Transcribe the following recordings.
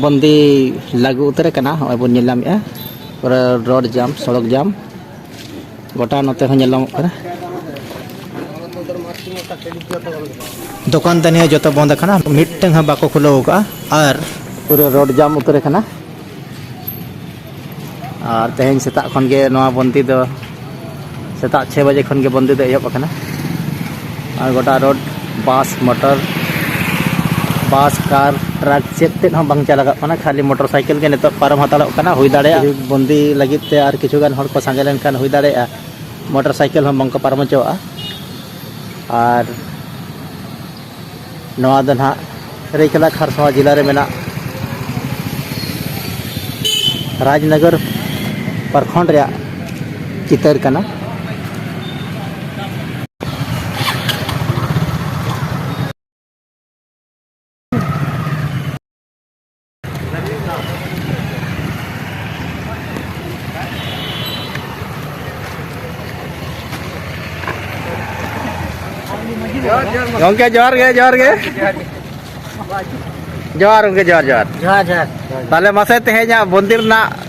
ᱵᱚᱱᱫᱤ ᱞᱟᱹᱜᱩ ᱩᱛᱟᱹᱨ ᱟᱠᱟᱱᱟ ᱱᱚᱜᱼᱚᱭ ᱵᱚᱱ ᱧᱮᱞ ᱧᱟᱢᱮᱫᱼᱟ ᱯᱩᱨᱟᱹ ᱨᱳᱰ ᱡᱟᱢ ᱥᱚᱲᱚᱠ ᱡᱟᱢ ᱜᱚᱴᱟ ᱱᱚᱛᱮ ᱦᱚᱸ ᱧᱮᱞ ᱧᱟᱢᱚᱜ ᱠᱟᱱᱟ ᱫᱚᱠᱟᱱ ᱫᱟᱹᱱᱤ ᱦᱚᱸ ᱡᱚᱛᱚ ᱵᱚᱱᱫ ᱟᱠᱟᱱᱟ ᱢᱤᱫᱴᱟᱝ ᱦᱚᱸ ᱵᱟᱠᱚ ᱠᱷᱩᱞᱟᱹᱣ ᱟᱠᱟᱫᱼᱟ ᱟᱨ ᱯᱩᱨᱟᱹ ᱨᱳᱰ ᱡᱟᱢ ᱩᱛᱟᱹᱨ ᱟᱠᱟᱱᱟ ᱟᱨ ᱛᱮᱦᱮᱧ ᱥᱮᱛᱟᱜ ᱠᱷᱚᱱ ᱜᱮ ᱱᱚᱣᱟ ᱵᱚᱱᱫᱤ ᱫᱚ ᱥᱮᱛᱟᱜ ᱪᱷᱮ ᱵᱟᱡᱮ ᱠᱷᱚᱱ ᱜᱮ ᱵᱚᱱᱫᱤ ᱫᱚ ᱮᱦᱚᱵ ᱟᱠᱟᱱᱟ ᱟᱨ ᱜᱚᱴᱟ road bus motor bus car truck ᱪᱮᱫ ᱛᱮᱫ ᱦᱚᱸ ᱵᱟᱝ ᱪᱟᱞᱟᱜ ᱠᱟᱱᱟ ᱠᱷᱟᱹᱞᱤ ᱢᱚᱴᱚᱨ ᱥᱟᱭᱠᱮᱞ ᱜᱮ ᱱᱤᱛᱚᱜ ᱯᱟᱨᱚᱢ ᱦᱟᱛᱟᱲᱚᱜ ᱠᱟᱱᱟ ᱦᱩᱭ ᱫᱟᱲᱮᱭᱟᱜᱼᱟ ᱵᱚᱱᱫᱤ ᱞᱟᱹᱜᱤᱫ ᱛᱮ ᱟᱨ ᱠᱤᱪᱷᱩ ᱜᱟᱱ ᱦᱚᱲ ᱠᱚ ᱥᱟᱸᱜᱮ ᱞᱮᱱᱠᱷᱟᱱ ᱦᱩᱭ ᱫᱟᱲᱮᱭᱟᱜᱼᱟ ᱢᱚᱴᱚᱨ ᱥᱟᱭᱠᱮᱞ ᱦᱚᱸ ᱵᱟᱝ ᱠᱚ ᱯᱟᱨᱚᱢ ᱦᱚᱪᱚᱣᱟᱜᱼᱟ ᱟᱨ ᱱᱚᱣᱟ ᱫᱚ ᱱᱟᱦᱟᱜ ᱥᱟᱹᱨᱟᱹᱭᱠᱮᱞᱟ ᱠᱷᱟᱨᱥᱚᱶᱟ ᱡᱮᱞᱟ ᱨᱮ ᱢᱮᱱᱟᱜ ᱨᱟᱡᱽᱱᱚᱜᱚᱨ ᱯᱨᱚᱠᱷᱚᱸᱰ ᱨᱮᱭᱟᱜ ᱪᱤᱛᱟᱹᱨ ᱠᱟᱱᱟ ᱜᱚᱝᱠᱮ ᱡᱚᱦᱟᱨ ᱜᱮ ᱡᱚᱦᱟᱨ ᱜᱮ ᱡᱚᱦᱟᱨ ᱜᱚᱝᱠᱮ ᱡᱚᱦᱟᱨ ᱡᱚᱦᱟᱨ ᱡᱚᱦᱟᱨ ᱡᱚᱦᱟᱨ ᱛᱟᱦᱚᱞᱮ ᱢᱟᱥᱮ ᱛᱮᱦᱮᱧᱟᱜ ᱢᱚᱱᱫᱤᱨ ᱨᱮᱱᱟᱜ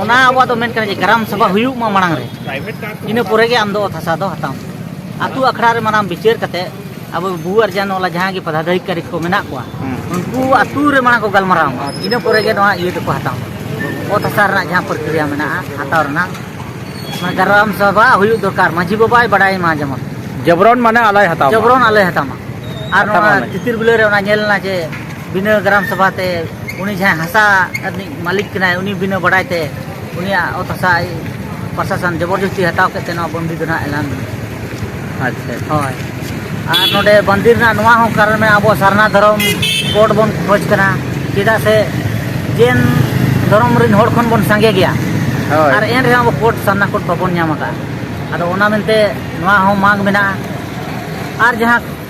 ᱚᱱᱟ ᱟᱵᱚᱣᱟᱜ ᱫᱚ ᱢᱮᱱ ᱠᱟᱱᱟ ᱡᱮ ᱜᱨᱟᱢ ᱥᱚᱵᱷᱟ ᱦᱩᱭᱩᱜ ᱢᱟ ᱢᱟᱲᱟᱝ ᱨᱮ ᱤᱱᱟᱹ ᱯᱚᱨᱮ ᱜᱮ ᱟᱢ ᱫᱚ ᱚᱛ ᱦᱟᱥᱟ ᱫᱚ ᱦᱟᱛᱟᱣ ᱟᱛᱳ ᱟᱠᱷᱲᱟ ᱨᱮ ᱢᱟᱱᱟᱢ ᱵᱤᱪᱟᱹᱨ ᱠᱟᱛᱮ ᱟᱵᱚ ᱵᱩ ᱟᱨ ᱡᱟᱱ ᱚᱞᱟ ᱡᱟᱦᱟᱸ ᱜᱮ ᱯᱚᱫᱟᱫᱷᱤᱠᱟᱨᱤ ᱠᱚ ᱢᱮᱱᱟᱜ ᱠᱚᱣᱟ ᱩᱱᱠᱩ ᱟᱛᱳ ᱨᱮ ᱢᱟᱲᱟᱝ ᱠᱚ ᱜᱟᱞᱢᱟᱨᱟᱣ ᱢᱟ ᱤᱱᱟᱹ ᱯᱚᱨᱮ ᱜᱮ ᱱᱚᱣᱟ ᱤᱭᱟᱹ ᱫᱚᱠᱚ ᱦᱟᱛᱟᱣ ᱚᱛ ᱦᱟᱥᱟ ᱨᱮᱱᱟᱜ ᱡᱟᱦᱟᱸ ᱯᱨᱚᱠᱨᱤᱭᱟ ᱢᱮᱱᱟᱜᱼᱟ ᱦᱟᱛᱟᱣ ᱨᱮᱱᱟᱜ ᱜᱨᱟᱢ ᱥᱚᱵᱷᱟ ᱦᱩᱭᱩᱜ ᱫᱚᱨᱠᱟর ᱢᱟᱹᱡᱷᱤ ᱵᱟᱵᱟᱭ ᱵᱟᱰᱟᱭ ᱢᱟ ᱡᱮᱢᱚᱱ ᱡᱚᱵᱨᱚᱱ ᱢᱟᱱᱮ ᱟᱞᱟᱭ ᱦᱟᱛᱟᱣ ᱡᱚᱵᱨᱚᱱ ᱟᱞᱟᱭ ᱦᱟᱛᱟᱣ ᱢᱟ ᱟᱨ ᱱᱚᱣᱟ ᱛᱤᱛᱤᱨ ᱵᱤᱞᱟᱹ ᱨᱮ ᱚᱱᱟ ᱧᱮᱞ ᱞᱮᱱᱟ ᱡᱮ ᱵᱤᱱᱟᱹ ᱜᱨᱟᱢ ᱥᱚᱵᱷᱟ ᱛᱮ ᱩᱱᱤ ᱡᱟᱦᱟᱸᱭ ᱦᱟᱥᱟ ᱨᱤᱱᱤᱡ ᱢᱟᱹᱞᱤᱠ ᱠᱟᱱᱟᱭ ᱩᱱᱤ ᱵᱤᱱᱟᱹ ᱵᱟᱰᱟᱭ ᱛᱮ ᱩᱱᱤᱭᱟᱜ ᱚᱛ ᱦᱟᱥᱟ ᱯᱨᱚᱥᱟᱥᱚᱱ ᱡᱚᱵᱚᱨᱡᱚᱥᱛᱤ ᱦᱟᱛᱟᱣ ᱠᱮᱫ ᱛᱮ ᱱᱚᱣᱟ ᱵᱚᱱᱫᱤ ᱫᱚ ᱱᱟᱦᱟᱜ ᱮᱞᱟᱱ ᱟᱪᱪᱷᱟ ᱦᱳᱭ ᱟᱨ ᱱᱚᱰᱮ ᱵᱚᱱᱫᱤ ᱨᱮᱱᱟᱜ ᱱᱚᱣᱟ ᱦᱚᱸ ᱠᱟᱨᱚᱱ ᱢᱮᱱᱟᱜᱼᱟ ᱟᱵᱚ ᱥᱟᱨᱱᱟ ᱫᱷᱚᱨᱚᱢ ᱠᱳᱰ ᱵᱚᱱ ᱠᱷᱚᱡᱽ ᱠᱟᱱᱟ ᱪᱮᱫᱟᱜ ᱥᱮ ᱡᱮᱱ ᱫᱷᱚᱨᱚᱢ ᱨᱮᱱ ᱦᱚᱲ ᱠᱷᱚᱱ ᱵᱚᱱ ᱥᱟᱸᱜᱮ ᱜᱮᱭᱟ ᱦᱳᱭ ᱟᱨ ᱮᱱ ᱨᱮᱦᱚᱸ ᱟᱵᱚ ᱠᱳᱰ ᱥᱟᱨᱱᱟ ᱠᱳᱰ ᱵᱟᱵᱚᱱ ᱧᱟᱢ ᱟᱠᱟᱫᱼᱟ ᱟᱫᱚ ᱚᱱᱟ ᱢᱮᱱᱛᱮ ᱱᱚᱣᱟ ᱦᱚᱸ ᱢᱟᱜᱽ ᱢᱮᱱᱟᱜᱼᱟ ᱟᱨ ᱡᱟᱦᱟᱸ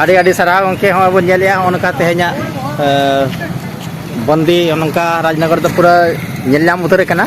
ᱟᱹᱰᱤ ᱟᱹᱰᱤ ᱥᱟᱨᱦᱟᱣ ᱜᱚᱢᱠᱮ ᱦᱚᱸᱜᱼᱚᱭ ᱵᱚᱱ ᱧᱮᱞᱮᱜᱼᱟ ᱱᱚᱜᱼᱚ ᱱᱚᱝᱠᱟ ᱛᱮᱦᱮᱧᱟᱜ ᱵᱚᱱᱫᱤ ᱱᱚᱝᱠᱟ ᱨᱟᱡᱽᱱᱚᱜᱚᱨ ᱫᱚ ᱯᱩᱨᱟᱹ ᱧᱮᱞ ᱧᱟᱢ ᱩᱛᱟᱹᱨ ᱠᱟᱱᱟ